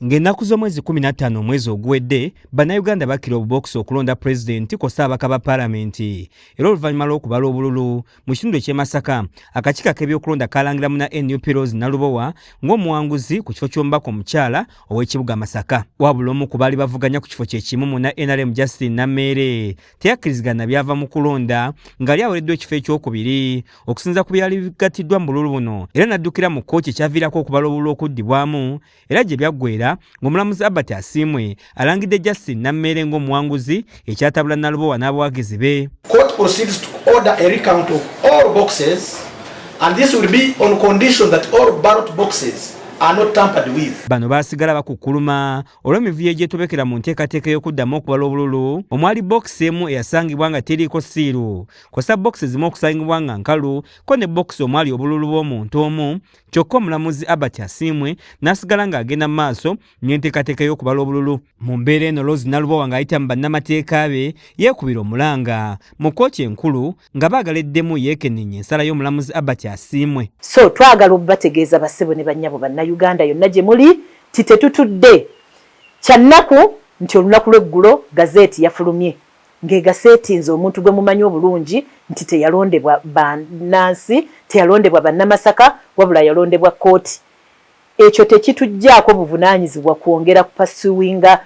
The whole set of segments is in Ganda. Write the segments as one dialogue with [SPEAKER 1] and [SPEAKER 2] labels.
[SPEAKER 1] Ng'ennaku z'omwezi 15 omwezi oguwedde, Bannayuganda bakira obubookisi okulonda Pulezidenti kw'ossa ababaka ba Palamenti era oluvannyuma lw'okubala obululu mu kitundu eky'e Masaka, akakiiko ak'ebyokulonda kaalangira muna nup Rose Nalubowa ng'omuwanguzi ku kifo ky'omubaka omukyala ow'ekibuga Masaka. Wabula omu ku baali bavuganya ku kifo kye kimu muna nrm Justine Nameere teyakkirizigana na byava mu kulonda ng'ali awereddwa ekifo ekyokubiri okusinza ku byali bigattiddwa mu bululu buno era n'addukira mu kkooti ekyaviirako okubala obululu okuddibwamu era gye byaggweera ng'omulamuzi Albert Asiimwe alangidde Justin Nammeere ng'omuwanguzi ekyatabula Nalubowa n'abawagizi be. Court proceeds to
[SPEAKER 2] order a recount of all boxes and this will be on condition that all ballot boxes bano baasigala bakukkuluma
[SPEAKER 1] olw'emivuyo egyetobekera mu nteekateeka ey'okuddamu okubala obululu omwali bokisi emu eyasangibwa nga teriiko siiru kosa bokisi zimu okusangibwa nga nkalu ko ne bokisi omwali obululu bw'omuntu omu kyokka omulamuzi abert asiimwe n'asigala ng'agenda mu maaso n'enteekateeka y'okubala obululu mu mbeera eno lozi nalubowa ng'ayita mu bannamateeka be yeekubira omulanga mu kkooti enkulu nga baagala eddemu yeekenneenye ensala y'omulamuzi abert asiimwe so twagala
[SPEAKER 3] obubategeeza basebo ne bannyabo bannayuganda yonna gye muli ti tetutudde kyannaku nti olunaku lw'eggulo gazeeti yafulumye ng'egaseetinze omuntu gwe mumanyi obulungi nti teyalondebwa bannansi, teyalondebwa Bannamasaka wabula yalondebwa kkooti, ekyo tekituggyaako buvunaanyizibwa kwongera kupasuwinga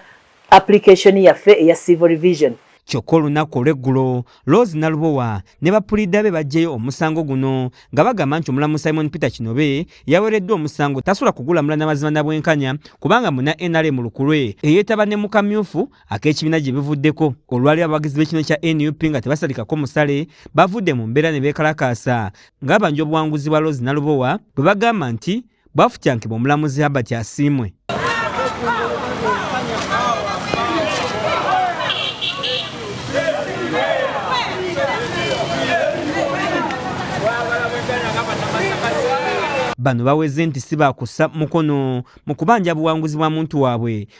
[SPEAKER 3] application yaffe eya Civil Revision. Kyokka olunnaku
[SPEAKER 1] olw'eggulo, Rose Nalubowa ne ba puliida be baggyeyo omusango guno nga bagamba nti omulamuzi Simon Peter Kinobe eyawereddwa omusango tasobola kugulamula na mazima na bwenkanya kubanga munna nrm lukulwe eyeetaba ne mu kamyufu ak'ekibiina gye bivuddeko olwali abawagizi b'ekibiina kya nup nga tebasalikako musale bavudde mu mbeera ne beekalakaasa ng'abanja obuwanguzi bwa lozi nalubowa bwe bagamba nti bwafutyankibwa omulamuzi herbert asiimwe bano baweze nti si bakussa mukono mu kubanja buwanguzi bwa muntu waabwe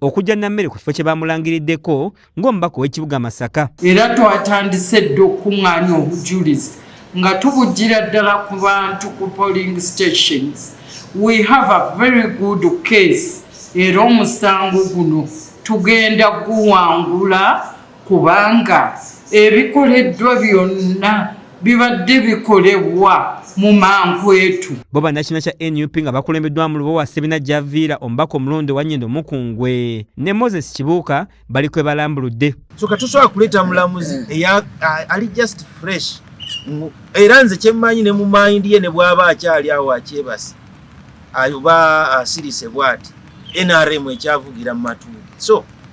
[SPEAKER 1] okujja nammere ku kifo kye baamulangiriddeko ng'omubaka ow'ekibuga Masaka. Era twatandise
[SPEAKER 4] dda okukuŋŋaanya obujulizi nga tubujjira ddala ku bantu ku polling stations. We have a very good case era omusango guno tugenda guwangula. kubanga ebikoleddwa byonna bibadde bikolebwa mu mankwetu. Bo bannakina kya
[SPEAKER 1] nup nga bakulembeddwamu Lubowa Sebina Javiira omubaka omulonde wa Nyendo Mukungwe ne Moses Kibuuka bali kwe balambuludde. So katusobola kuleeta
[SPEAKER 5] mulamuzi eya ali just fresh era nze kyemmanyi ne mu mayindi ye ne bw'aba akyali awo akyebase ayoba asirise bwati nrm ekyavugira mu matuuli so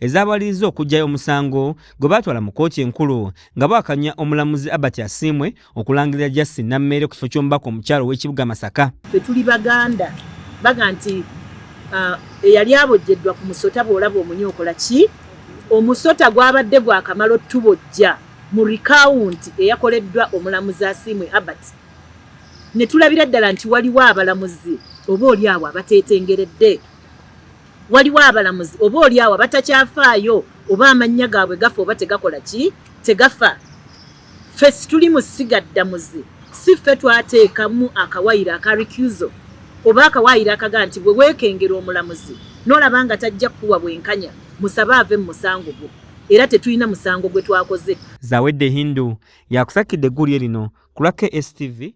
[SPEAKER 1] ezaabalirizza okuggyayo omusango gwe baatwala mu kkooti enkulu nga bwakanya omulamuzi Albert Asiimwe okulangirira Justin Nammeere ku kifo ky'omubaka omukyalo ow'ekibuga Masaka. Ffe tuli Baganda
[SPEAKER 3] baga nti uh, eyali abojjeddwa ku musota bw'olaba omunyo okola ki omusota gwabadde gwakamala otubojja mu rikawunti eyakoleddwa omulamuzi Asiimwe Albert ne tulabira ddala nti waliwo abalamuzi oba oli awo abateetengeredde Waliwo abalamuzi oba oli awo abatakyafaayo oba amannya gaabwe gafa oba tegakola ki tegafa. Ffe situli mu ssiga ddamuzi, si ffe twateekamu akawayiro aka recusal oba akawayiro akaga nti bwe weekengera omulamuzi n'olaba nga tajja kukuwa bwenkanya musabe ave mu musango gwo era tetulina musango gwe twakoze. Zawedde
[SPEAKER 1] Hindu
[SPEAKER 3] y'akusakidde
[SPEAKER 1] eggulire lino ku lwa
[SPEAKER 3] KSTV.